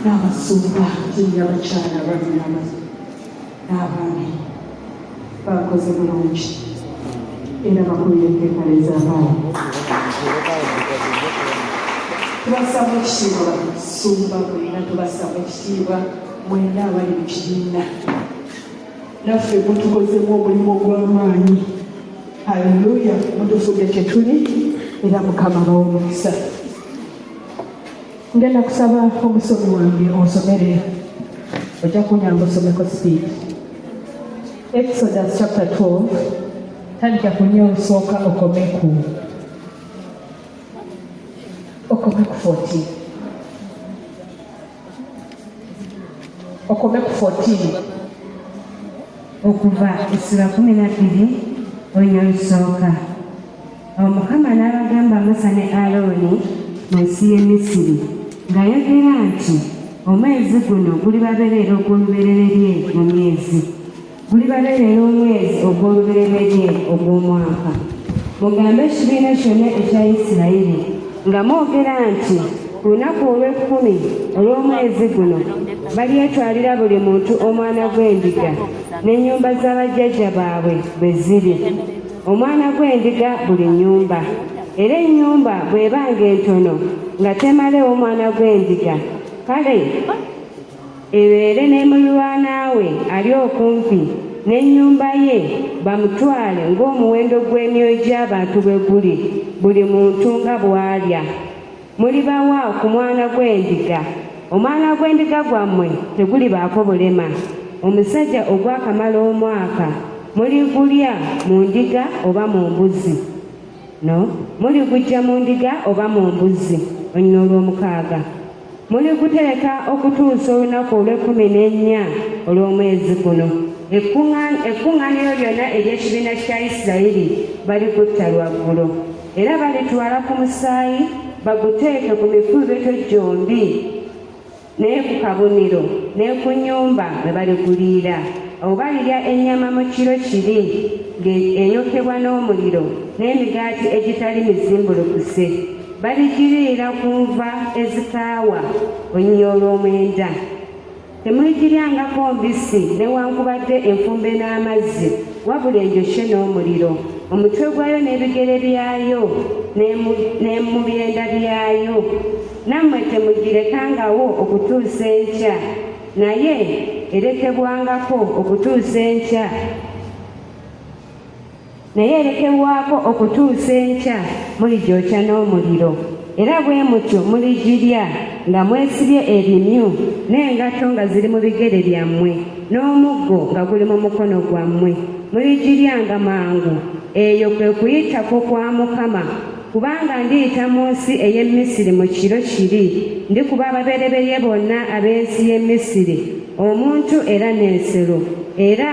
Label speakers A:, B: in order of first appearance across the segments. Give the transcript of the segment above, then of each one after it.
A: n'abasumba tuli abakyala balinaba n'abaami bakoze bulungi era bakulira empepala ez'abaana tubasaba ekitiibwa basumba bwena tubasaba ekitiibwa mwena abali mu kibiina naffe mutukozemu omulimu ogw'amaanyi haleluya mutufudde tetuli era mukama bawo omukisa ngenda kusaba omusomi wange onsomere ojja kunyamba osomeko speed exodus chapter 12 tandika kunya olusooka okomeku okomeku 14 okomeku 14 okuva
B: essula kumi na bbiri oyo olusooka awo mukama n'abagamba musa ne alooni mu nsi y'e misiri ng'ayogera nti omwezi guno gulibabereera ogw'olubereberye mu myezi gulibabereera omwezi ogw'olubereberye ogw'omwaka mugambe ekibiina kyonna ekya isirayiri nga mwogera nti ku lunaku olw'ekkumi olw'omwezi guno balyetwalira buli muntu omwana gw'endiga n'ennyumba z'abajjajja baabwe bwe ziri omwana gw'endiga buli nnyumba era ennyumba bw'eba ng'entono nga temalewo omwana gw'endiga kale ebeere ne mulirwanaawe ali okumpi n'ennyumba ye bamutwale ng'omuwendo gw'emyoyo gy'abantu bwe guli buli muntu nga bw'alya mulibawa ku mwana gw'endiga omwana gw'endiga gwammwe tegulibaako bulema omusajja ogwakamala omwaka muligulya mu ndiga oba mu mbuzi no muligujja mu ndiga oba mu mbuzi onyina olw'omukaaga muligutereka okutuusa olunaku olw'ekkumi n'ennya olw'omwezi guno ekkuŋŋaaniro lyonna ery'ekibiina kya isirayiri balikutta lwaggulo era balitwala ku musaayi baguteeke ku mikuubeto gyombi naye ku kabonero ne ku nnyumba bwe baliguliira awo balirya ennyama mu kiro kiri ng'eyokebwa n'omuliro n'emigaati egitali mizimbulukuse baligiriira ku nva ezikaawa olunya olw'omwenda Temuyigiryangako mbisi newankubadde enfumbe n'amazzi, wabula enjokye n'omuliro, omutwe gwayo n'ebigere byayo ne mu byenda byayo. Nammwe temugirekangawo okutuusa enkya, naye erekebwangako okutuusa enkya naye erekebwako okutuusa enkya muligyokya n'omuliro era bwe mutyo muligirya nga mwesibye ebimyu n'engatto nga ziri mu bigere byammwe n'omuggo nga guli mu mukono gwammwe muligiryanga mangu eyo kwe kuyitako kwa mukama kubanga ndiyita mu nsi ey'e misiri mu kiro kiri ndikuba ababereberye bonna ab'ensi y'e misiri omuntu era n'ensero era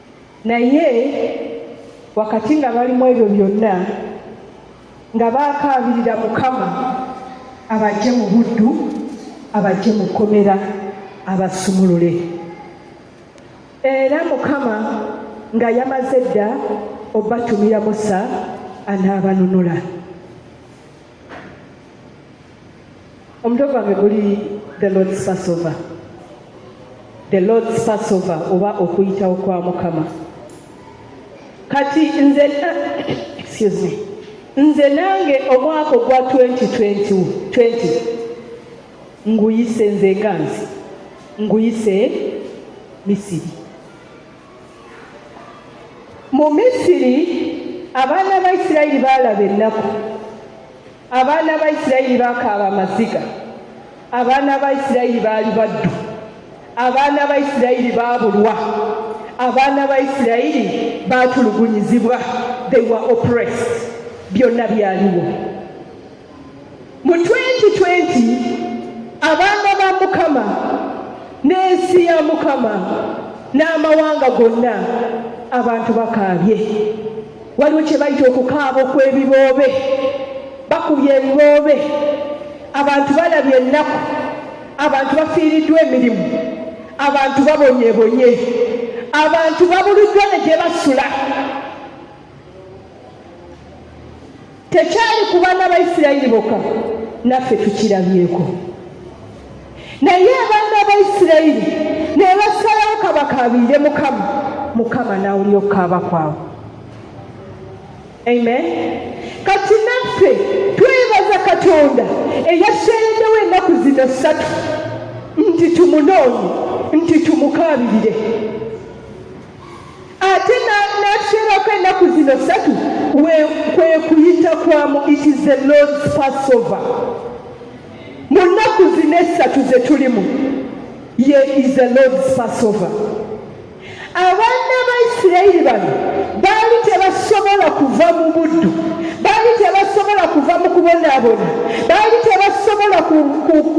A: naye wakati nga bali mu ebyo byonna nga baakaabirira mukama abajje mu buddu abajje mu kkomera abasumulule era mukama nga yamaze dda obatumira musa anaabanunula omutwe gwange guli the lords passover the lords passover oba okuyitawo kwa mukama kati nze excuse me nze nange omwaka ogwa 2020 nguyise nze ganzi nguyise misiri mu misiri abaana ba isirayiri baalaba ennaku abaana ba isirayiri bakaaba amaziga abaana ba isirayiri baali baddu abaana ba isirayiri baabulwa abaana ba isirayiri baatulugunyizibwa they were oppressed byonna byaliwo mu 2020 abaana ba mukama n'ensi ya mukama n'amawanga gonna abantu bakaabye waliwo kye bayita okukaaba okw'ebiboobe bakubye ebiboobe abantu balabye ennaku abantu bafiiriddwa emirimu abantu babonyebonye abantu babuluddwa ne gye basula Tekyali ku baana ba Isirayiri bokka, naffe tukirabyeko. Naye abaana ba Isirayiri ne basalawo kabakaabirire Mukama, Mukama n'awulira okukaaba kwabwe. Amen. Kati naffe twebaza Katonda eyasseereddewo ennaku zino ssatu nti tumunoonye nti tumukaabirire. ate n'atukyerako ennaku zino ssatu kwe kuyita kwa mu it is the lord's passover mu nnaku zino essatu ze tulimu ye is the lord's passover abaana ba isirayiri bano baali tebasobola kuva mu buddu baali tebasobola kuva mu kubonaabona baali tebasobola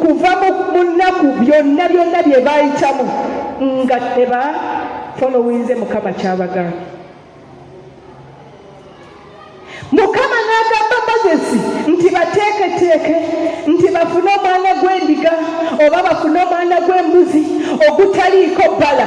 A: kuva mu nnaku byonna byonna bye baayitamu nga teba folowinze mukama kyabagambye mukama n'agamba mozesi nti bateeketeeke nti bafune omwana gw'endiga oba bafune omwana gw'embuzi ogutaliiko bbala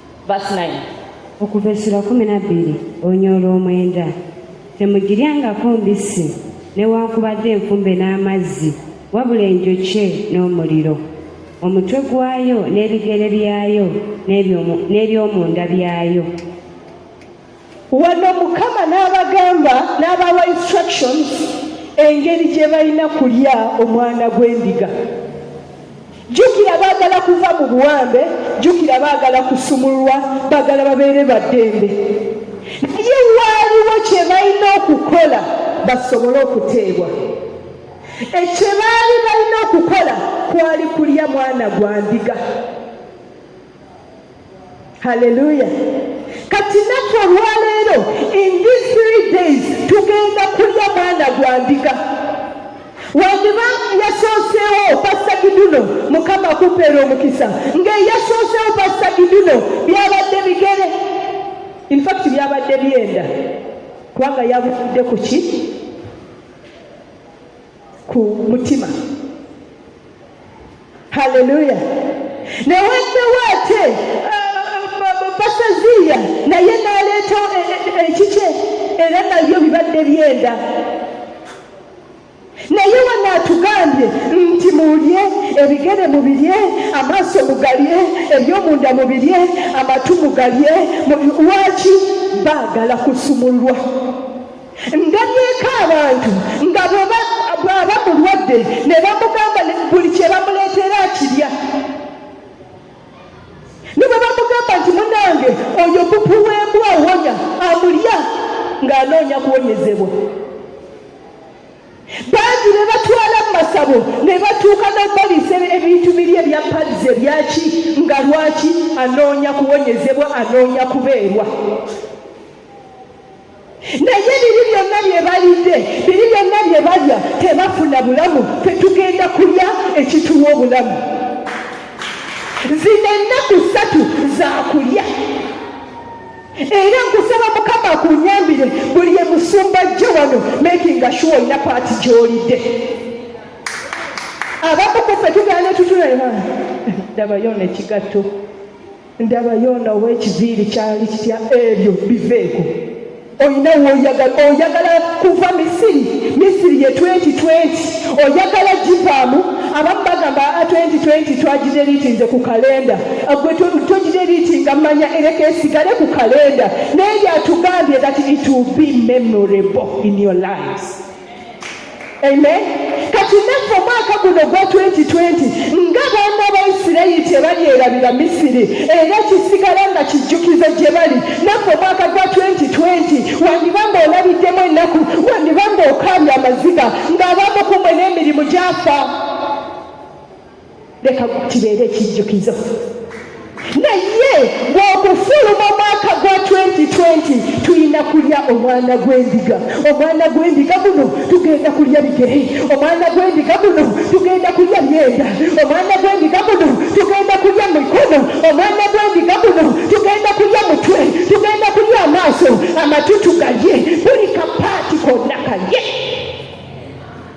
A: okuva essula
B: kumi na bbiri onyoola omwenda temugiryangako mbisi newankubadde enkumbe n'amazzi wabula enjokye n'omuliro omutwe gwayo n'ebigere byayo n'ebyomunda byayo Wano
A: Mukama n'abagamba n'abawa instructions engeri gye balina kulya omwana gw'endiga. Jjukira baagala kuva mu buwambe, jjukira baagala kusumululwa, baagala babeere baddembe. Naye waaliwo kye balina okukola basobole okuteebwa. Ekyo baali balina okukola kwali kulya mwana gwa ndiga. haleluya kati naku olwaleero in these three days tugenda kulya mwana gwa ndiga wandiba yasooseewo pasta giduno mukama akupeera omukisa ng'eyasooseewo pasta giduno byabadde bigere infact byabadde byenda kubanga yabudde ku ki ku mutima haleluya newaddewo ate basaziya naye naleeta ekikye era nabyo bibadde byenda naye wano atugambye nti mulye ebigere mubirye amaaso mugalye ebyomunda mubirye amatu mugalye lwaki baagala kusumulwa ndabyeeko abantu nga bwaba mulwadde ne bamugamba buli kye bamuleetera akirya ne bwe bamugamba nti munange oyo bupu w'embwa awonya amulya ng'anoonya kuwonyezebwa bangi ne batwala mu masabo ne batuuka n'okubaliisa ebintu biri ebya padizi ebyaki nga lwaki anoonya kuwonyezebwa anoonya kubeerwa naye biri byonna bye balidde biri byonna bye balya tebafuna bulamu fe tugenda kulya ekituwa obulamu zino ennaku ssatu zakulya era nkusaba mukama akunyambire buli emusumba jjo wano makinga shuwa olina paati gyolidde abakukufe tugana tutulewa dabayo nekigatto ndaba yoona ow'ekiviiri kyali kitya ebyo biveeko olina woyagala oyagala kuva misiri misiri ye 2020 oyagala givaamu abamu bagamba 2020 ah, twagideritinze ku kalenda ah, gwe togideritinga manya ereka esigale ku kalenda naye yatugambye that it will be memorable in your lives amen kati naffe omwaka guno gwa 2020 nga baana ba isirayiri tebalyerabira misiri era kisigala nga kijjukizo gye bali naffe omwaka gwa 2020 wandiba nga olabiddemu ennaku wandiba nga okaabya amaziga ng'abamu kumwe n'emirimu gyafa leka kibeere ekijjukizo naye bw'okufuluma omwaka gwa 2020 tulina kulya omwana gw'endiga omwana gw'endiga guno tugenda kulya bigere omwana gw'endiga guno tugenda kulya myenda omwana gw'endiga guno tugenda kulya mikono omwana gw'endiga guno tugenda kulya mutwe tugenda kulya amaaso amatutu galye buli kapaati konna kalye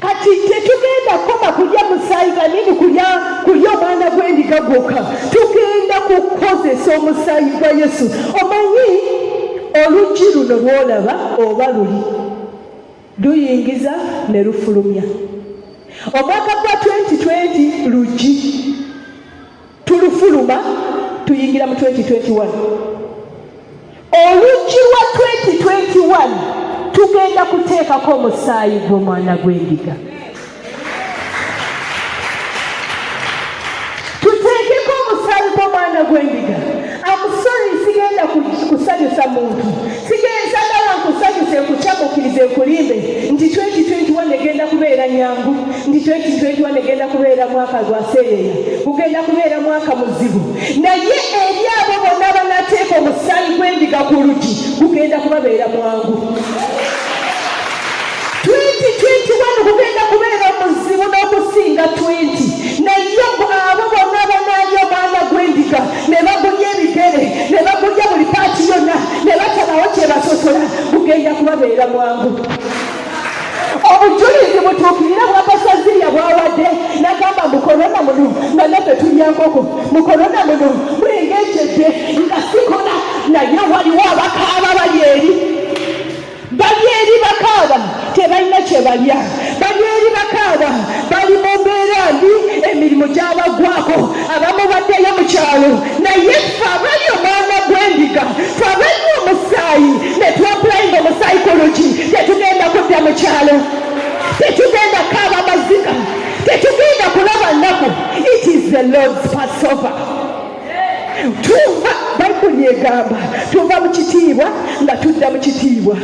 A: kati tetugenda kukoma kulya musaayi ganini kulya kulya omwana gw'endiga gwokka tugenda kukozesa omusaayi gwa yesu omanyi oluggi luno lwolaba oba luli luyingiza ne lufulumya omwaka gwa 2020 luggi tulufuluma tuyingira mu 2021 oluggi lwa 2021 tugenda kuteekako omusaayi gw'omwana gw'endiga tuteekeko omusaayi gw'omwana gw'endiga amusori sigenda kusanyusa muntu sigenzagala nkusanyuse nkucamukirize nkulimbe nti 2021 egenda kubeera nyangu nti 2021 egenda kubeera mwaka gwaseereera gugenda kubeera mwaka muzibu naye eri abo bonna banateeka omusaayi gwendiga ku lugi gugenda kubabeera mwangu 2021 gugenda kubeera muzibu n'okusinga 20 ne bagulya ebigere ne bagulya buli paati yonna ne batabawo kyebasosola bugenda kubabeera mwangu obujulizi butuukirira bwakasazirya bwawadde nagamba mukolona muno nga naffe tulyankoko mukolona muno bwengekyedde nga sikola naye waliwo abakaaba bali eri bali eri bakaaba tebalina kye balya bali eri bakaaba bali mu mbeera mbi emirimu gyabagwako abamu baddeyo mu kyalo naye fe abali omwana gw'endiga fe abali omusaayi ne twapulayinga omusayikologi tetugenda kudda mu kyalo tetugenda kaaba maziga tetugenda kulaba nnaku it is the lord's passover tuva bayibuli egamba tuva mu kitiibwa nga tudda mu kitiibwa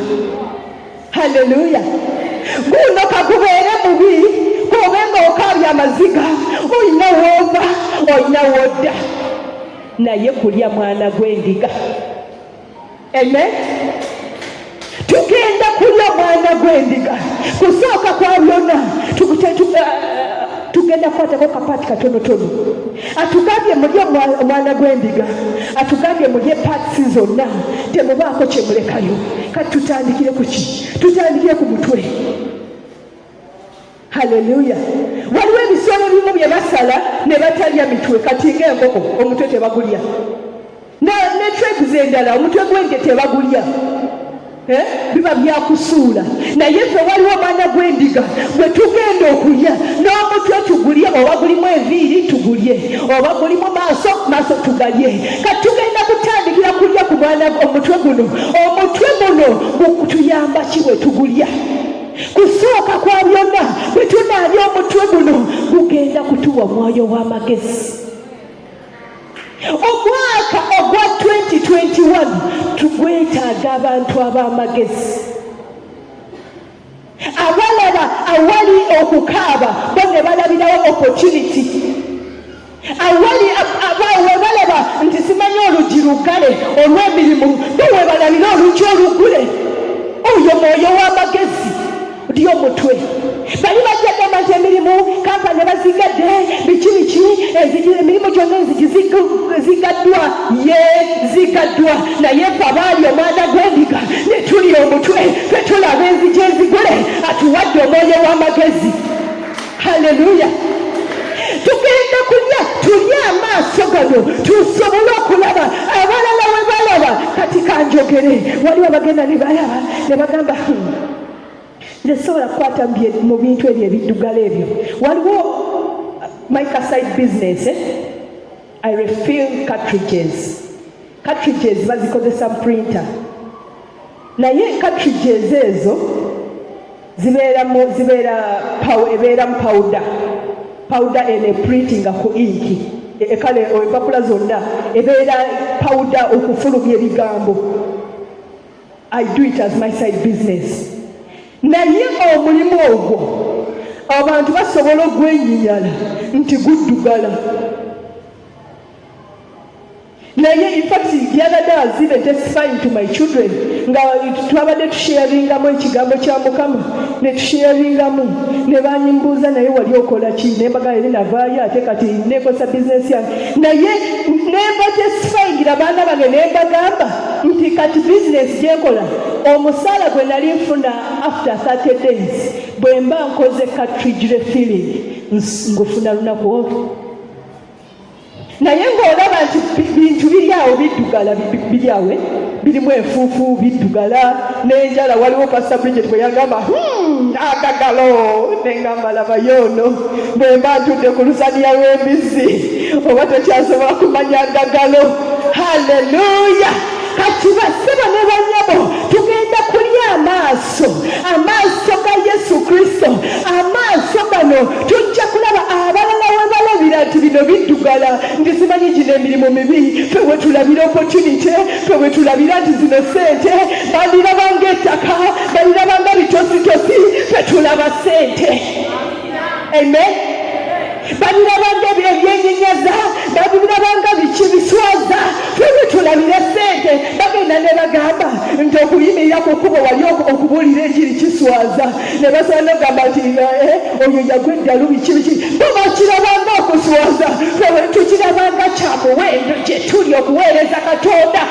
A: haleluya guno kagubeere mubi kobe nga okaabya amaziga olina woova olina wodda naye kulya mwana gw'endiga Amen. Tugenda kulya omwana gw'endiga kusooka kwa byonna tugenda kukwatako kapaati katonotono atugambye mulye omwana gw'endiga atugambye mulye paatisi zonna temubaako kyemulekayo kati tutandikire kuki tutandikire ku mutwe haleluya waliwo ebisolo bimu bye basala ne batalya mitwe kati ng'enkoko omutwe tebagulya ne treguze endala omutwe gw'ente tebagulya eh? biba byakusuula naye ffe waliwo omwana gw'endiga bwe tugenda okulya n'omutwe tugulye oba gulimu enviiri tugulye oba gulimu maaso maaso tugalye kati tugenda kutandikira kulya ku mwana omutwe guno omutwe guno gutuyamba ki bwe tugulya kusooka kwa byonna bwe tunaabya omutwe guno gugenda kutuwa omwoyo w'amagezi omwaka ogwa 2021 tugwetaaga abantu ab'amagezi abalaba awali okukaaba bo ne balabirawo opportunity awali webalaba nti simanyi oluggi luggale olw'emirimu bo webalalira oluggi oluggule oyo mwoyo w'amagezi ri omutwe bali bajja gamba nti emirimu kampani bazigadde biki biki emirimu gyonna enzigi zigaddwa ye zigaddwa naye fe abaali omwana gw'endiga ne tuli omutwe fe tulaba enzigi ezigule atuwadde omwoyo w'amagezi Haleluya! tugenda kulya tulye amaaso gano tusobole okulaba abalala we balaba. Kati kanjogere, waliwo abagenda ne balaba ne bagamba hmm, nze sobola kukwata mu bintu ebyo ebiddugala ebyo. Waliwo uh, microside business eh? I refill cartridges cartridges bazikozesa printer naye cartridges ezo zibeera mu zibeera ebeera mu pawuda pawuda ene printinga ku inki e, e, kale empapula zonna ebeera pawuda okufulumya ebigambo i do it as my side business naye omulimu ogwo abantu basobola ogwenyinyala nti guddugala naye infact yabadde azibe tesifying to my children nga twabadde tusheyaringamu ekigambo kya mukama netusheyaringamu nebanyimbuuza naye wali okola ki nembaga eri navaayo ate kati nekosa bizinesi yange naye nemba tesifayingira baana bange nembagamba nti kati bizinesi gyenkola omusaala gwe nali nfuna after 30 days bwemba nkoze katrijre feeling ngufuna lunaku olwo naye ng'olaba nti bintu biri awo biddugala biri awe birimu enfuufu biddugala n'enjala waliwo pasita bridget bwe yagamba hmm, agagalo nengamba labayo ono bwe mba ntudde ku lusaniya lw'embizzi oba tekyasobola kumanya agagalo haleluya kati basebo ne banyabo tugenda kulya amaaso yesu amaaso ga yesu kristo amaaso gano tujja kulaba abalala webalabira nti bino biddugala nti simanyi gino emirimu mibi fe wetulabira opportunity fe wetulabira nti zino sente balirabanga ettaka balirabanga bitositosi fe tulaba sente Amen. babirabanga ebyenyenyaza babirabanga biki biswaza fene tulabire sente bagenda ne bagamba nti okuyimirira ku kkubo wali okubuulira ekiri kiswaza ne basobola nogamba nti eh, eh, oyo yagwa eddalu biki biki bo bakirabanga okuswaza tukirabanga kyamuwendo gye tuli okuweereza katonda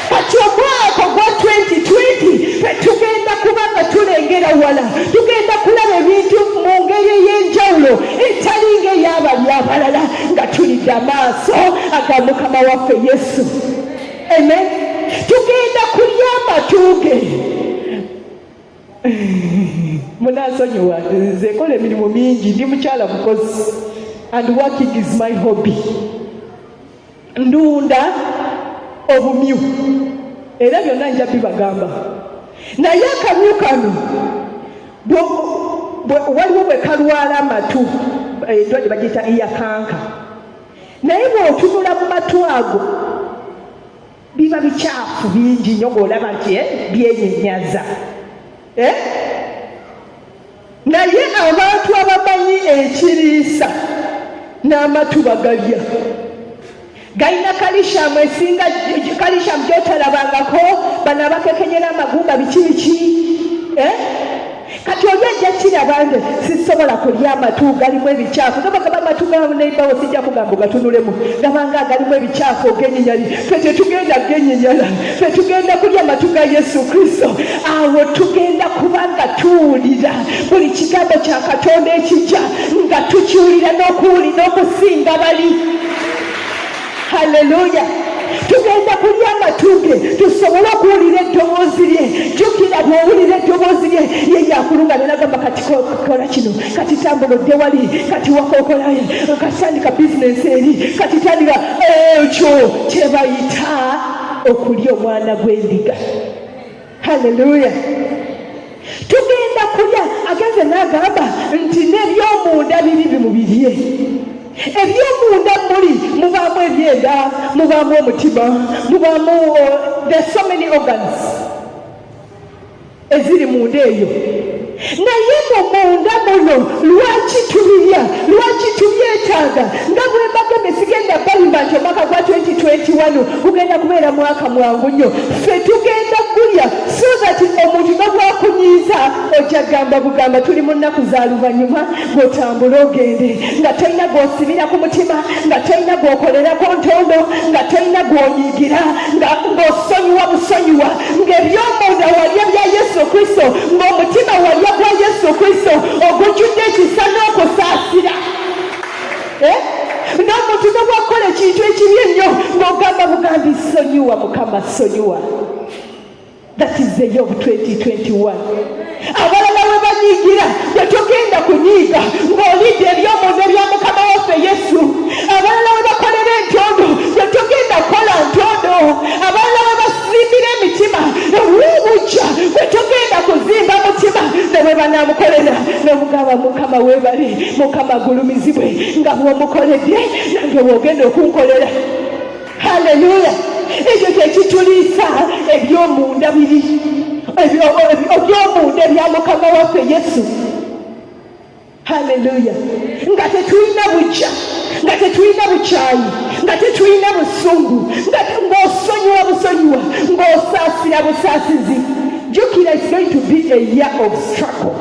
A: kati omwaka gwa 2020 fe tugenda kuba nga tulengera wala tugenda kulaba ebintu mu ngeri ey'enjawulo etali ng'eyabali abalala nga tulidde amaaso aga mukama waffe yesu amen tugenda kulya amatuuge munasonyiwa nze kola emirimu mingi ndi mukyala mukozi and working is my hobby ndunda obumyu era byonna nja bibagamba naye akamyu kano waliwo bwe kalwala amatu eh, endwadde bagiyita iyakanka naye bw'otunula mu matu ago biba bikyafu bingi nyo ng'olaba nti eh, byenyenyaza eh? naye abantu abamanyi ekiriisa n'amatu bagalya galina kalishamu esinga kalishamu gyotalabangako bano abakekenyera amagumba biki biki eh? kati oli ajja kiraba nti sisobola kulya amatu galimu ebikyafu gabagaba amatu ganebawo sijja kugamba ogatunulemu gabanga agalimu ebikyafu ogenyinyali fe tetugenda genyinyala ffe tugenda kulya matu ga yesu kristo awo tugenda kuba nga tuwulira buli kigambo kya katonda ekijja nga tukiwulira n'okuwuli n'okusinga bali halleluya tugenda kulya amatuge tusobole okuwulira eddoboozi lye jukira bwowulira eddoboozi lye ye yakulunga nenagamba kati kola kino kati tambula odde wali kati wakokolaye katandika bizinensi eri kati tandika ekyo kyebayita okulya omwana gw'endiga haleluya tugenda kulya agenze n'agamba nti n'ebyomunda biri bimubirye ebyomunda muli mubaamu ebyenda mubaamu omutima mubaamu uh, there so many organs eziri munda eyo naye mu munda muno lwaki tubirya lwaki tubyetaaga nga bwembaga nesigenda balimba nti omwaka gwa 2021 gugenda kubeera mwaka mwangu nnyo ffe tugenda kulya so that omuntu nobwakunyiiza ojja gamba bugamba tuli mu nnaku za luvannyuma otambule ogende nga tolina gwosibira ku mutima nga tolina gwokolerako ntondo nga tolina gwonyigira ngaosonyiwa busonyiwa ngaebyomunda walya bya yesu kristo ngaomutima walya gwa yesu kristo ogujjudde ekisa n'okusaasira eh? n'omuntu nobwakukola ekintu ekibi ennyo ng'ogamba bugambi sonyiwa mukama sonyiwa That is the year of 2021. abalala we banyiigira gwe togenda kunyiiga ng'olidde eby'omunda ebya mukama waffe yesu abalala we bakolera entondo gwe togenda kukola ntondo abalala we basimbira emitima ewuubujja gwe togenda kuzimba mutima ne bwe banaamukolera nomugamba mukama webale mukama gulumizibwe nga bwomukoledde nange wogenda okunkolera haleluya ekyo kyekituliisa ebyomunda biri ebyomunda ebya mukama waffe yesu haleluya nga tetulina bujja nga tetulina bukyayi nga tetulina busungu ngaosonyiwa busonyiwa ngaosaasira busaasizi jukira is going to be a year of struggle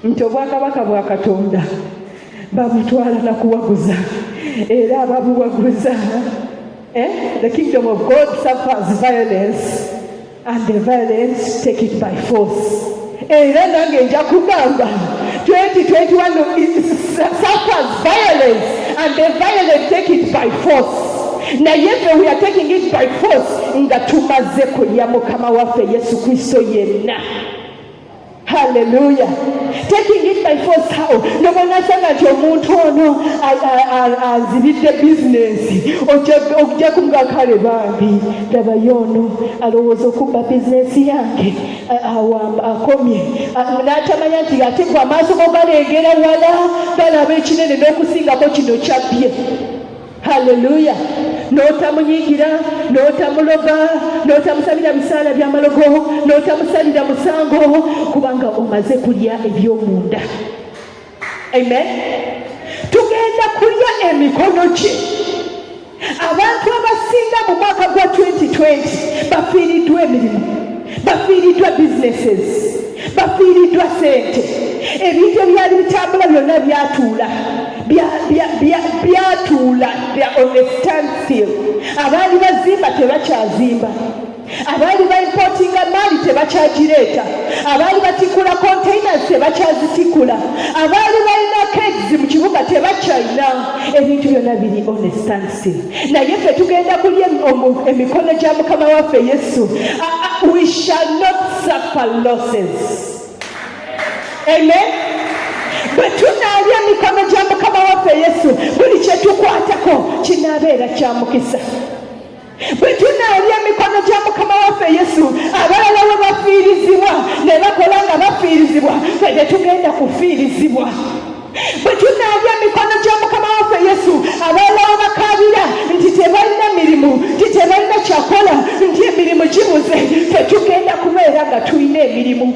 A: nti obwakabaka bwa katonda babutwala na kuwaguza era ababuwaguza eh? the kingdom of god suffers violence and the violence take it by force era nange nja kugamba 2021 suffers violence and the violence take it by force naye fe we are taking it by force nga tumaze kulya mukama waffe yesu kristo yenna Hallelujah. Taking it by force how? Ndoba nasanga nti omuntu ono azibidde bizinensi ojja kumga kale bambi labayo ono alowooza okubba bizinensi yange akomye n'atamanya nti ate gwe amaaso go galengera wala galaba ekinene n'okusingako kino kyabbye Haleluya! N'otamunyiigira, n'otamuloga, n'otamusabira bisaala bya malogo, n'otamusalira musango, kubanga omaze kulya eby'omunda. Amen. Tugenda kulya emikono gye. Abantu abasinga mu mwaka gwa 2020 bafiiriddwa emirimu. bafiiriddwa businesses bafiiriddwa sente ebintu ebyali bitambula byonna byatuula byatuula on a standstill abaali bazimba tebakyazimba abaali baimpotinga maali tebakyagireeta abaali batikula containers tebakyazitikula abaali balina kegs mu kibuga tebakyalina ebintu byonna biri on a standstill bannansi naye ffe tugenda kulya emikono gya mukama waffe yesu we shall not suffer losses amen bwe tunaalya emikono gya mukama waffe yesu buli kye tukwatako kinaabeera kya mukisa bwe tunaalya emikono gya mukama waffe yesu abalala we bafiirizibwa ne bakola nga bafiirizibwa fe tetugenda kufiirizibwa bwe tunaabya mikono gya mukama waffe yesu abaana wabakaabira nti tebalina mirimu nti tebalina kyakola nti emirimu gibuze tetugenda kubeera nga tulina emirimu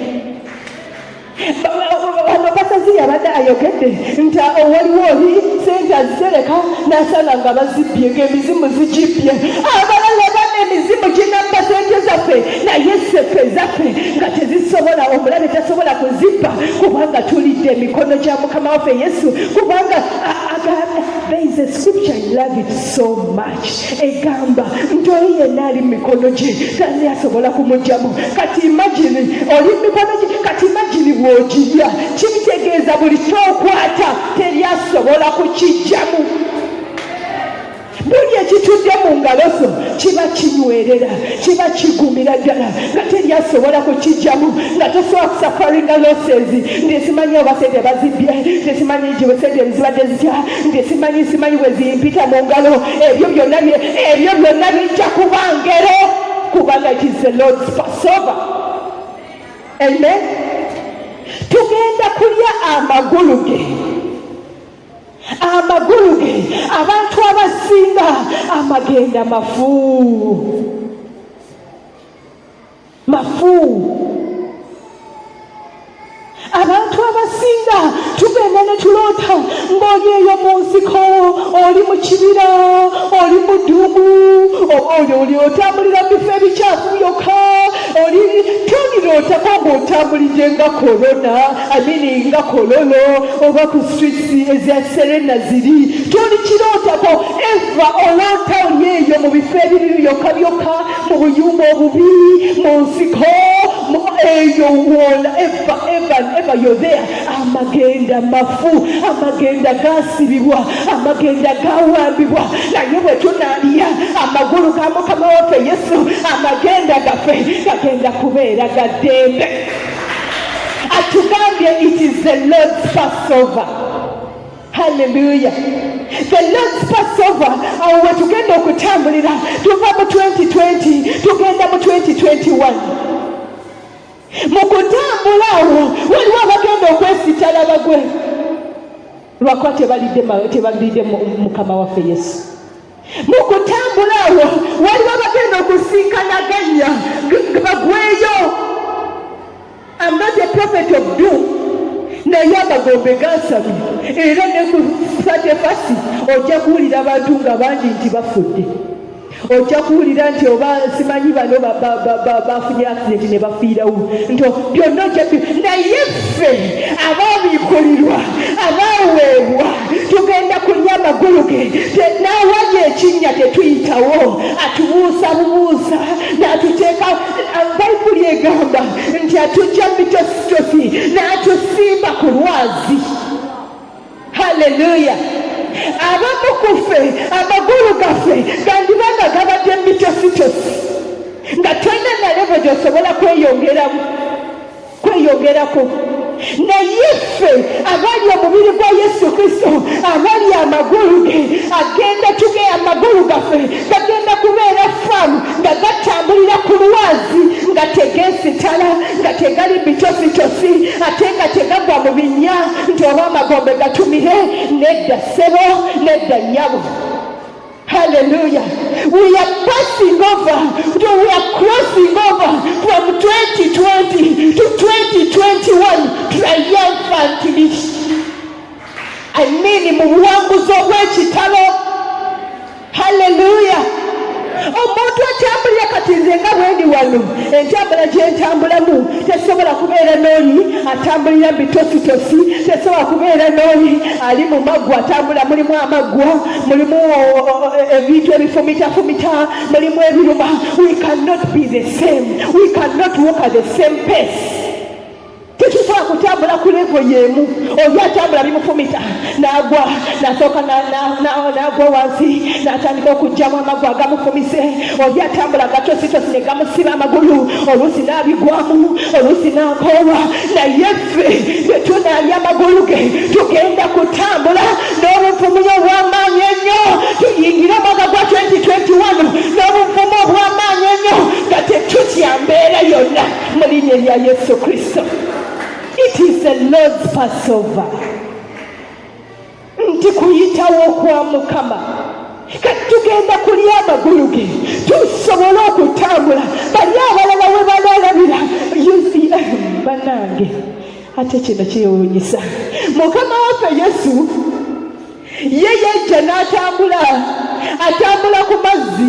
A: abasazi yabadde ayogedde nti owaliwo oli sente azizereka nasanga nga bazibbye ng'emizimu zigibbye abalala bana emizimu ginabba sente zaffe naye seffe ezaffe nga tezisobola omulabe tasobola kuzibba kubanga tulidde emikono gya mukama waffe yesu kubanga there is a scripture I love it so much egamba nti oyo yenna ali mu mikono gye tani asobola kumugyamu kati imagine oli mu mikono gye kati imagine bw'ogirya kibitegeeza buli kyokwata teri asobola kukijjamu buli ekitudde mu ngalo zo kiba kinywerera kiba kigumira ddala nga teri asobola kukijjamu nga tosobola kusafaringa losezi nti simanyi obasente bazibbye nti simanyi giwesente zibadde zitya nti simanyi simanyi wezimpita mu ngalo ebyo byonna ebyo byonna bijja kuba ngero kubanga it is the lord's passover amen tugenda kulya amagulu ge amagulu ge abantu abasinga amagenda mafu mafu abantu abasinga tugenda ne tuloota ng'oli eyo mu nsiko oli mu kibira oli mu ddugu oyo oli otambulira mu bifo ebikyafu byokka oli tonirootako ng'otambulidde nga korona amini nga kololo oba ku streets ezya serena ziri toli kirootako eva olota oli eyo mu bifo ebibi byokka byokka mu buyumba obubi mu nsiko eyo wola eva eva eva yodhea amagenda mafu amagenda gasibibwa amagenda gawambibwa naye bwe tunaalya amagulu ga mukama waffe yesu amagenda gaffe gagenda kubeera ga ddembe atugambye it is the lord's passover haleluya the lord's passover awo wetugenda okutambulira tuva mu 2020 tugenda mu 2021 mu kutambula awo waliwo abagenda okwesitala bagwe lwakuba tebalidde tebalidde mukama waffe yesu mu kutambula awo waliwo abagenda okusinkanaganya bagweyo am not a prophet of doom naye amagombe gasabi era ne ku satefasi ojja kuwulira abantu nga bangi nti bafudde ojja kuwulira nti oba simanyi bano bafunye accident ne bafiirawo nti byonna ojja naye ffe abaabikulirwa abaaweebwa tugenda kulya amagulu ge n'awali ekinnya tetuyitawo atubuusa bubuusa n'atuteeka bayibuli egamba nti atujja mitositosi n'atusimba ku lwazi Hallelujah. Abamu ku ffe amagulu gaffe gandiba nga gabadde mitositosi nga tolina na levo gyosobola kweyongeramu kweyongerako naye ffe abali omubiri gwa yesu kristo abali amagulu ge agenda tuge amagulu gaffe gagenda kubeera famu nga gatambulira ku lwazi nga tegeesitala nga tegali bitositosi ate nga tegagwa mu binnya nti oba amagombe gatumire nedda ssebo nedda nnyabo Hallelujah. We are passing over, we are crossing over from 2020 to 2021 triumphantly. I mean, mu buwanguzi obw'ekitalo entambula gyentambulamu tesobola kubeera n'oli atambulira bitositosi tesobola kubeera n'oli ali mu maggwa atambula mulimu amaggwa mulimu ebintu ebifumitafumita mulimu ebiruma we cannot be the same we cannot walk at the same pace tekisobola kutambula ku levo yemu oli atambula bimufumita nagwa nasooka nagwa wansi natandika okugjamu amagwa agamufumise oli atambula gatositosi negamusiba amagulu oluusi nabigwamu oluusi nakoolwa naye ffe netunalya amagulu ge tugenda kutambula n'obuvumuyo obwamaanyi ennyo tuyingire omwaka gwa 2021 n'obuvumu obwamaanyi ennyo nga tetutya mbeera yonna mu linnya erya yesu kristo it is a lords passover nti kuyitawo kwa mukama kati tugenda kulya amagulu ge tusobole okutambula bali abalala we balalabira banange ate kino kyewunyisa mukama waffe yesu ye yajja n'atambula atambula ku mazzi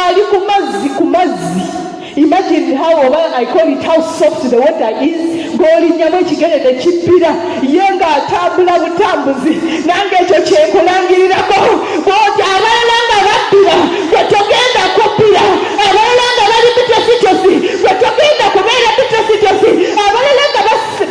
A: ali ku mazzi ku mazzi imagine how oba i call it how soft the water is g'olinnyamu ekigere ne kibbira ye ng'atambula butambuzi nange ekyo kyekulangirirako bwoti abalala nga babbira gwe togenda kubbira abalala nga bali bitositosi gwe togenda kubeera bitositosi abalala nga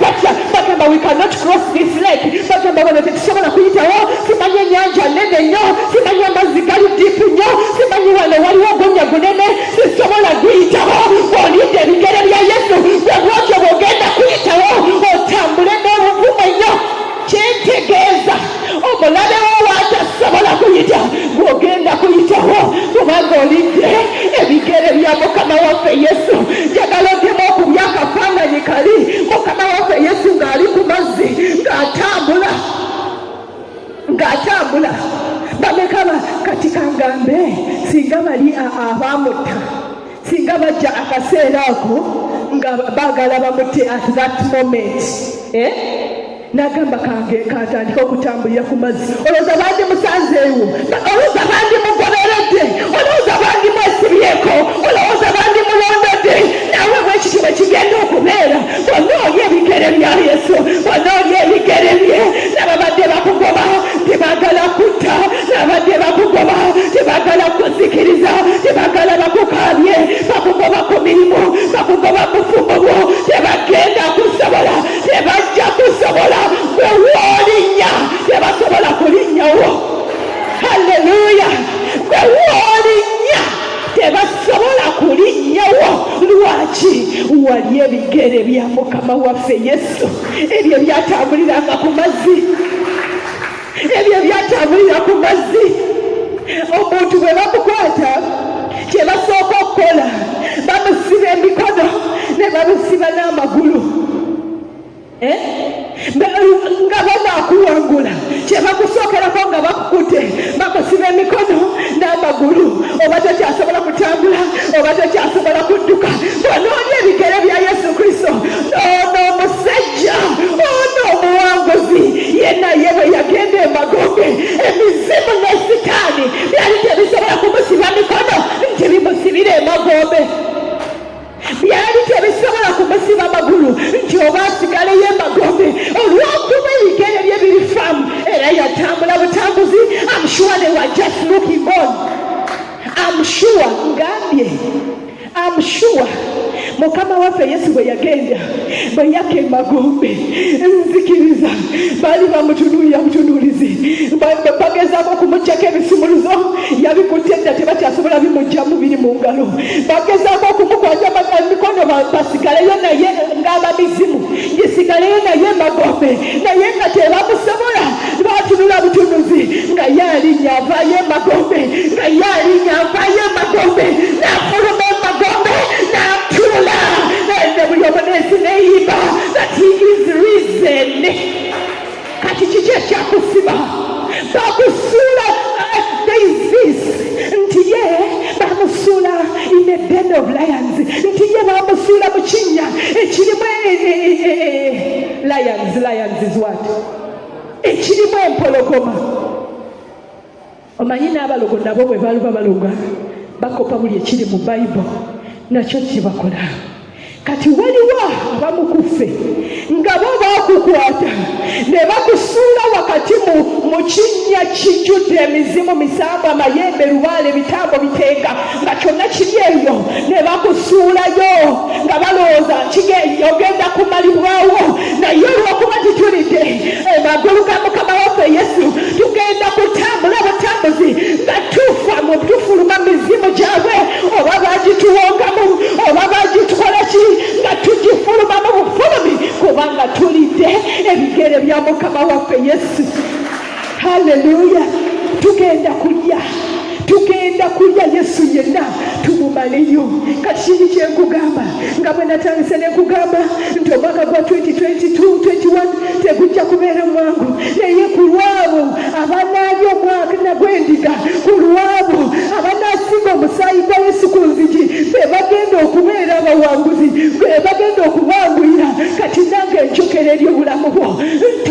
A: batya bagamba we cannot cross this lake bagamba wano tetusobola kuyitawo simanyi enyanja nene nnyo simanyi amazzi gali diipu nnyo simanyi wano waliwo ogunnya gunene sisobola guyitawo olidde ebigere bya yesu bwebwotyo bwogenda kuyitawo otambule n'obuvumu ennyo kyentegeeza omulabe wo watasobola kuyita gwogenda kuyitawo kubanga olidde ebigere bya mukama waffe yesu njagala ogemu okubya akafaananyi kali mukama waffe yesu ng'ali ku mazzi ng'atambula ng'atambula bamekaba kati kangambe singa bali abaamutta singa bajja akaseera ako nga baagala bamutte at that moment eh? nagamba kange katandika okutambulira ku mazzi olowooza bandi musanzeewo olowooza bandi mugoberedde olowooza bandi mwesibyeko olowooza bandi mulondodde nawe bwekityo bwe kigenda okubeera Wanoonye ebigere bya Yesu, wanoonye ebigere bye. Nababadde bakugoba tebagala kutta, nabadde bakugoba tebagala kuzikiriza, tebagala bakukaabye, bakugoba ku mirimu, bakugoba bufumbo bwo, tebagenda kusobola, tebajja kusobola gwe woolinnya, tebasobola kulinnyawo. Haleluya! gwe woolinnya tebasobola kulinnyawo lwaki wali ebigere bya mukama waffe yesu ebyo byatambuliranga ku mazzi ebyo byatambulira ku mazzi omuntu bwe bamukwata kye basooka okukola bamusiba emikono ne bamusiba n'amagulu eh? nga banakuwangula kyebakusookerako nga bakukute bakusiba emikono n'amagulu oba tokyasobola kutambula oba tokyasobola kudduka bwonoonya ebigere bya yesu kristo ono omusajja ono omuwanguzi ye naye bwe yagenda emagoge emizimu ne sitaani byali tebisobola kumusiba mikono nti bimusibire emagombe byali tebisobola kumusiba magulu nti oba asigaleyo emagombe olwokuba ebigere bye biri famu era yatambula butambuzi amshuwa ne wa just looking on amshuwa ngambye amshuwa mukama waffe yesu bwe yagenda bwe yakka emagombe nzikiriza baali bamutunuulira butunuulizi bagezaako okumugyako ebisumuluzo yabikutte dda tebakyasobola bimugyamu biri mu ngalo bagezaako okumukwata mikono basigaleyo naye ng'abamizimu gisigaleyo naye emagombe naye nga tebamusobola bwatunula butunuzi nga ye alinya avayo emagombe nga ye alinya avayo emagombe nafuluma emagombe natula ende buli omunesi neyimba that he is reason kati kiki ekyakusiba bakusuula eh, there is this nti ye bamusuula in the den of lions nti ye bamusuula mu kinnya ekirimu eh, eh, lions lions is what ekirimu empologoma omanyi n'abalogo nabo bwe baluba baloga bakopa buli ekiri mu bayibo nakyo kyebakola kati waliwo abamukuffe nga bo bakukwata ne bakusuula wakati mu kinnya kijjudde emizimu misamba amayembe lubaale bitambo biteeka nga kyonna kiri eyo ne bakusuulayo nga balowooza nti ogenda kumalibwawo naye olwokuba titulidde emagulu eh, ga mukama waffe yesu tugenda kutambula butambuzi nga tufa mu tufuluma mizimu gyabwe oba bagituwongamu oba bagitukola ki nga tugifuluma mu bufulumi kubanga tulidde ebigere bya mukama waffe yesu haleluya tugenda kulya tugenda kulya yesu yenna tumumaleyo kati kiri kyenkugamba nga bwe natandise nekugamba nti omwaka gwa 2022 tegujja kubeera mwangu naye ku lwabo abanaali omwaka nagwendiga ku lwabo abanaasiga omusaayi gwa yesu ku nzigi be bagenda okubeera abawanguzi be bagenda okubanguyira kati nange enjokera eri obulamu bwo nti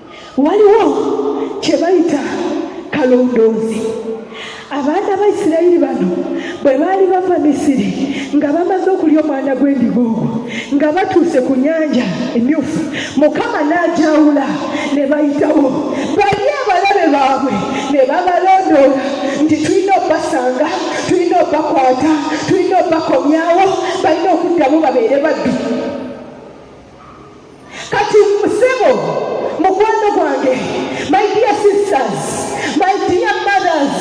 A: waliwo kye bayita kalondoozi abaana ba isirayiri bano bwe baali bava misiri nga bamaze okulya omwana gw'endiga ogwo nga batuuse ku nyanja emyufu mukama n'ajawula ne bayitawo bali abalabe baabwe ne babalondoola nti tulina obasanga tulina obakwata tulina obakomyawo balina okuddamu babeere baddu kati sebo mukwano gwange my dear sisters my dear mothers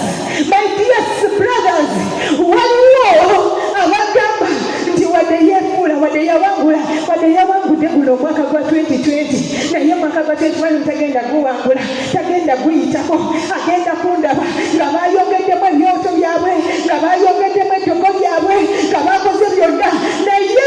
A: my dear brothers waliwo abagamba nti wadde yefuula wadde yawangula wadde yawangudde guno omwaka gwa 2020 naye omwaka gwa 2021 tagenda guwangula tagenda guyitako agenda kundaba nga bayogeddemu ebyoto byabwe nga bayogeddemu eddoko lyabwe nga bakoze byonna naye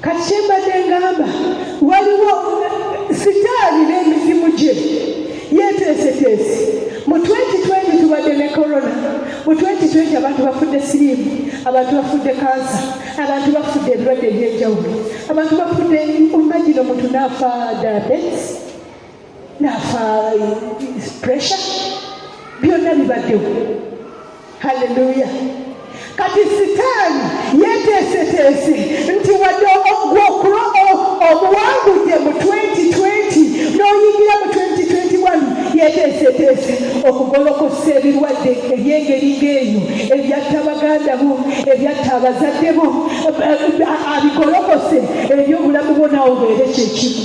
B: kati kyembadde
A: ngamba waliwo sitaani n'emizimu gye yeteeseteese mu 2020 tubadde ne corona mu 2020 abantu bafudde siriimu abantu bafudde kansa abantu bafudde ebirwadde ebyenjawulo abantu bafudde omagino muntu naafa diabetes nafa pressure byonna bibaddewo halleluya kati sitaani yeteeseteese nti wadde ogwokula obuwangudde mu 2020 n'oyingira mu 2021 yeteeseteese okugolokosa ebirwadde ebyengeri ng'eyo ebyatta baganda bo ebyatta abazadde bo abigolokose ebyobulamu bwo nawe obeere kyekimu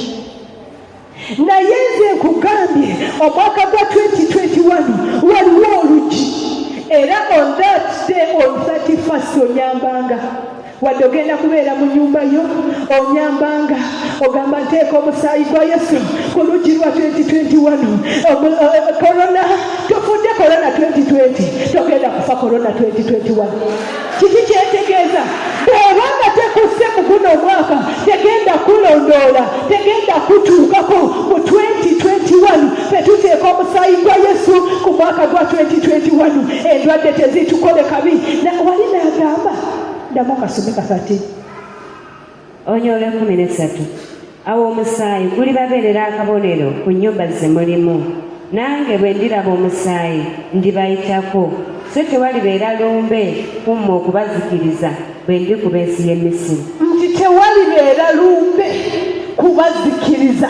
A: naye nze nkugambye omwaka gwa 2021 waliwo olugi era on that day on 31st onyambanga wadde ogenda kubeera mu nyumba yo onyambanga ogamba nteeka omusaayi gwa yesu ku luggi lwa 2021 korona tofudde korona 2020 togenda kufa korona 2021 kiki kyetegeeza bw'oba nga tekusse mu guno omwaka tegenda kulondoola tegenda kutuukako mu 2021 fe tuteeka omusaayi gwa yesu ku mwaka gwa 2021 endwadde tezitukole kabi wali naagamba ndamu kasome kakati
B: Onya olw'ekkumi n'essatu awo omusaayi gulibabeerera akabonero ku nnyumba ze mulimu nange bwe ndiraba omusaayi ndibayitako so tewalibeera lumbe ku mmwe okubazikiriza bwe ndi ku b'ensi y'e misiri nti tewalibeera
A: lumbe kubazikiriza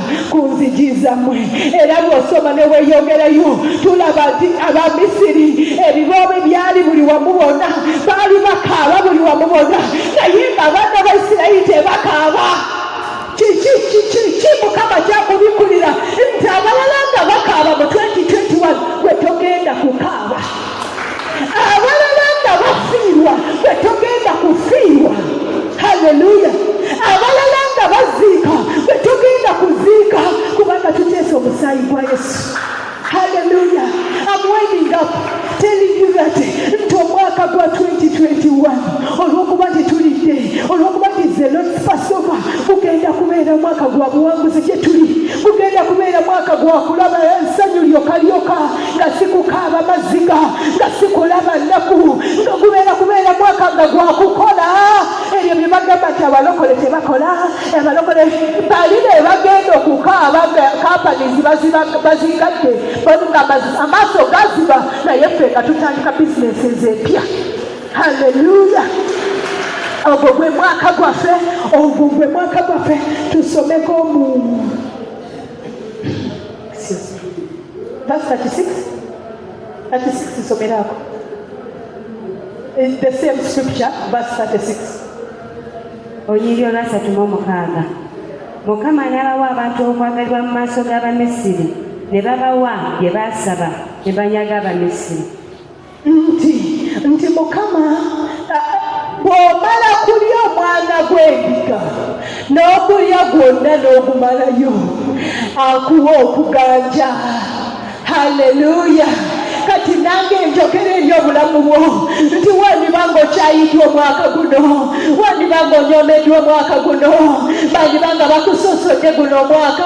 A: ku nzigi zammwe era bw'osoma ne weeyongerayo tulaba nti abamisiri ebiboobe byali buli wamu bonna baali bakaaba buli wamu bonna naye nga abaana ba isirayiri tebakaaba kiki kiki ki mukama kyakubikkulira nti abalala nga bakaaba mu 2021 gwe togenda kukaaba abalala nga bafiirwa gwe togenda kufiirwa haleluya abalala nga baziika gwe togenda kuziika kubanga tuteesa omusaayi gwa yesu haleluya amwendingaku teligirate nti omwaka gwa 2021 olwokuba nti tulidde olwokuba nti zelonfasova gugenda kubeera mwaka gwa buwanguzi gyetuli gugenda kubeera mwaka gwa kulaba ensanyu lyokalyoka nga sikukaaba maziga nga sikulaba nnaku nga gubeera kubeera mwaka nga gwakukola ebyo bye bagamba nti abalokole tebakola abalokole bali be bagenda okukaaba kampanizi bazigadde nga amaaso gaziba naye ffe nga tutandika bizinesi ezempya halleluya ogwo gwe mwaka gwaffe ogwo gwe mwaka gwaffe tusomeko mu Verse 36. 36 isomeraako. In the same scripture, verse 36.
B: Olunyiriri olwasatu mu omukaaga. Mukama n'abawa abantu okwagalibwa mu maaso g'Abamisiri, ne babawa bye baasaba, ne banyaga Abamisiri. nti
A: nti mukama bw'omala kulya omwana gw'endiga n'okulya gwonna n'ogumalayo akuwa okuganja haleluya kati nange njogera eri obulamu bwo nti wandiba nga okyayiddwa omwaka guno wandiba nga onyomeddwa omwaka guno bandiba nga bakusosodde guno omwaka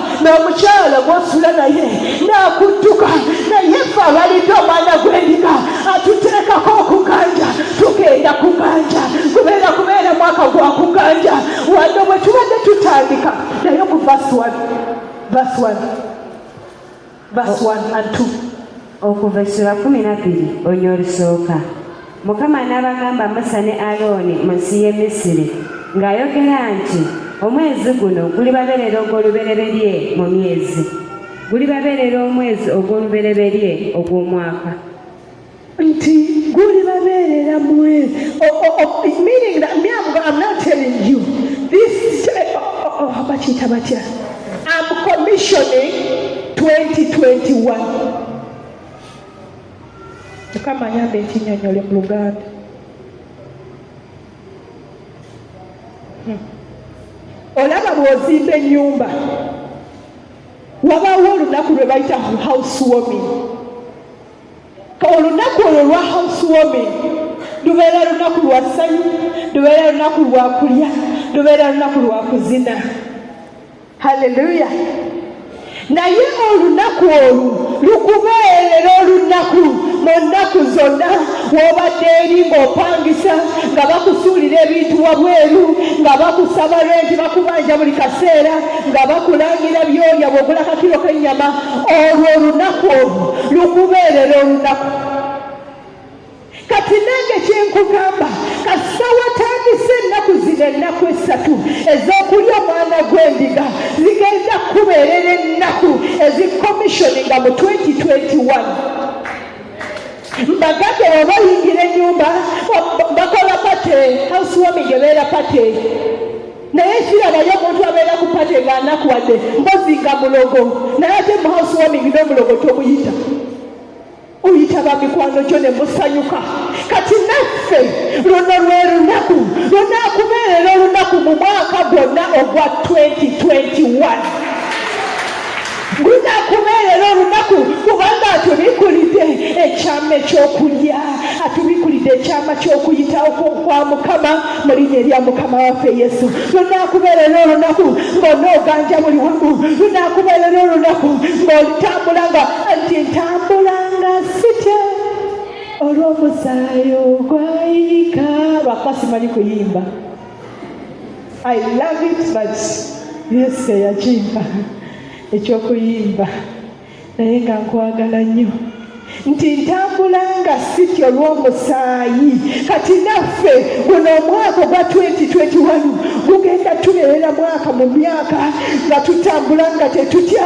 A: n'omukyala gw'osula naye n'akudduka naye ffe abalidde omwana gw'endiga atuteekako okuganja tugenda kuganja kubeera kubeera mwaka gwa kuganja wano bwe tubadde tutandika naye ku vaswani vaswani Verse 1 and 2. okuva essula
B: kumi na bbiri ony'olusooka mukama n'abagamba musa ne alooni mu nsi y'e misiri ng'ayogera nti omwezi guno gulibabeerera ogw'olubereberye mu myezi gulibabeerera omwezi ogw'olubereberye ogw'omwaka
A: nti gulibabeerera mwe meaning that me I'm, I'm not telling you this bakiyita batya I'm commissioning 2021 mukama ayamba ekinyonyole mu luganda hmm. olaba bw'ozimba ennyumba wabaawo olunaku lwe bayita house warming olunaku olwo lwa housewarming lubeera lunaku lwa ssanyu lubeera lunaku lwa kulya lubeera lunaku lwa kuzina halleluya naye olunaku olwo lukubeerera olunaku mu nnaku zonna wobadde eri ng'opangisa nga bakusuulira ebintu wabweru nga bakusaba lwenti bakubanja buli kaseera nga bakulangira byolya bwogula kakiro k'ennyama olwo olunaku olwo lukubeerera olunaku kati nange kyenkugamba kasita watandise ennaku zino ennaku esatu ez'okulya omwana gw'endiga zigenda kukubeerera ennaku ezikommishoninga mu 2021 mbagage webayingira enyumba bakola pate housewarming ebeera pate naye kirabayo omuntu abeera ku pate nga anakuwadde mbozi nga mulogo naye ate mu house warming n'omulogo tomuyita oyita ba mikwano gyo ne musanyuka kati naffe luno lwe lunaku lunaakubeerera olunaku mu mwaka gwonna ogwa 2021 guzakubeerera olunaku kubanga atubikulidde ekyama ekyokulya atubikulidde ekyama kyokuyitawo kwa mukama mu linnya erya mukama waffe yesu lunakubeerera olunaku ng'onooganja buli wamu lunakubeerera olunaku ng'olitambula nga nti ntambula nga sitya olw'omusaayi ogwayika lwakuba simanyi kuyimba I love it but yes yakimpa ekyokuyimba naye nga nkwagala nnyo nti ntambula nga siti olw'omusaayi kati naffe guno omwaka ogwa 2021 gugenda tubeerera mwaka mu myaka nga tutambula nga tetutya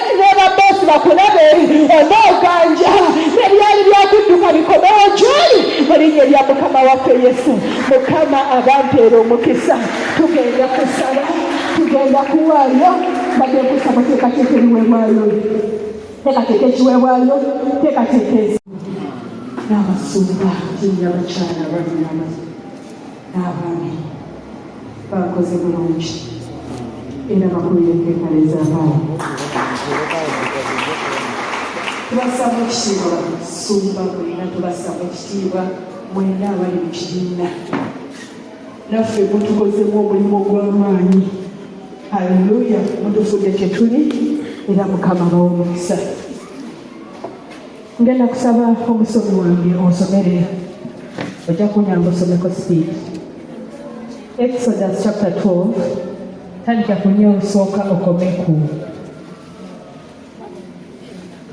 A: n'ababosi bakulabe oba oganja ebyali byakudduka bikomewo gyoli mu linnya lya mukama waffe yesu mukama abampeera omukisa tugenda kusaba tugenda kuwaayo badde kusaba teekateeka ebiweebwayo teekateeka ekiweebwayo teekateeka ezi n'abasumba tinya abakyala balina n'abaami bakoze bulungi era bakulira etteeka ly'ezaabaala tubassamu ekitiibwa sumba mulina tubassamu ekitiibwa mwena abali mu kibiina naffe mutukozemu omulimu ogw'amaanyi haleluya mutufudde kyetuli era mukama bawa omukisa Ngenda kusaba omusomi wange onsomere ojja kunyamba osomeko speed Exodus chapter 12 tandika ku nnyo olusooka okome ku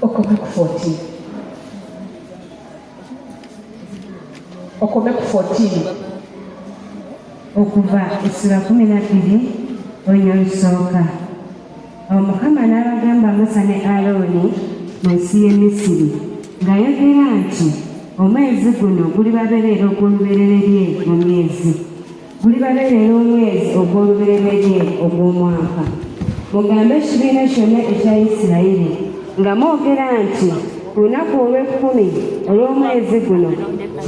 A: okome ku 14 okome ku 14 okuva
B: essula kumi na bbiri olunya olusooka awo mukama n'abagamba musa ne alooni mu nsi y'e misiri ng'ayogera nti omwezi guno gulibabereera ogw'olubereberye mu myezi gulibabereera omwezi ogw'olubereberye ogw'omwaka mugambe ekibiina kyonna ekya isirayiri nga mwogera nti ku lunaku olw'ekkumi olw'omwezi guno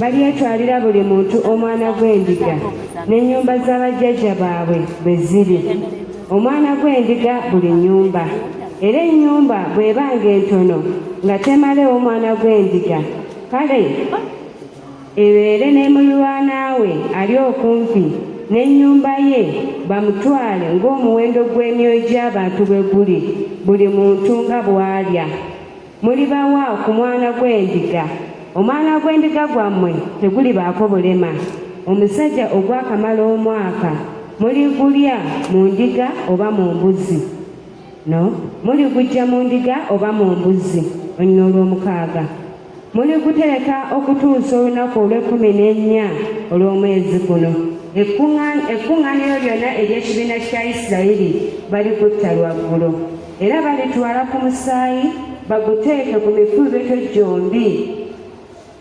B: balyetwalira buli muntu omwana gw'endiga n'ennyumba za bajjajja baabwe bwe ziri omwana gw'endiga buli nnyumba era ennyumba bw'eba ng'entono nga temalewo omwana gw'endiga kale ebeere ne mulirwana we ali okumpi n'ennyumba ye bamutwale ng'omuwendo gw'emyoyo gy'abantu bwe guli buli muntu nga bw'alya Mulibawa ku mwana gw'endiga, omwana gw'endiga gwammwe tegulibaako bulema. Omusajja ogwakamala omwaka muligulya mu ndiga oba mu mbuzi no muligujja mu ndiga oba mu mbuzi olunyina olw'omukaaga muligutereka okutuusa olunaku olw'ekkumi n'ennya olw'omwezi guno ekkuŋŋaaniro lyonna ery'ekibiina kya isirayiri balikutta lwaggulo era balitwala ku musaayi baguteeke ku mikuubeto gyombi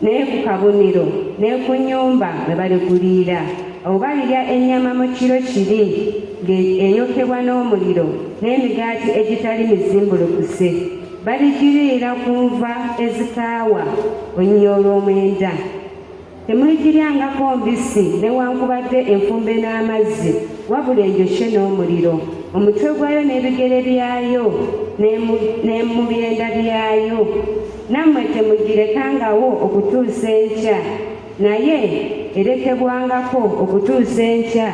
B: naye ku kabonero ne ku nnyumba bwe baliguliira awo balirya ennyama mu kiro kiri ng'eyokebwa n'omuliro n'emigaati egitali mizimbulukuse baligiriira ku nva ezikaawa olunya olw'omwenda Temuligiryangako mbisi newankubadde enfumbe n'amazzi, wabula enjokye n'omuliro. Omutwe gwayo n'ebigere byayo ne mu byenda byayo. Nammwe temugirekangawo okutuusa enkya, naye erekebwangako okutuusa enkya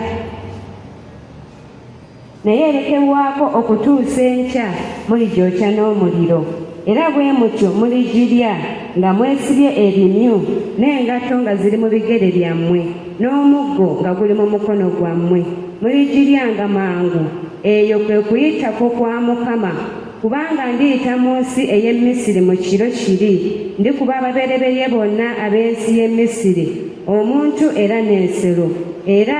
B: naye erekebwako okutuusa enkya muligyokya n'omuliro era bwe mutyo muligirya nga mwesibye ebimyu n'engatto nga ziri mu bigere byammwe n'omuggo nga guli mu mukono gwammwe muligiryanga mangu eyo kwe kuyitako kwa mukama kubanga ndiyita mu nsi ey'e misiri mu kiro kiri ndikuba ababereberye bonna ab'ensi y'e misiri omuntu era n'ensero era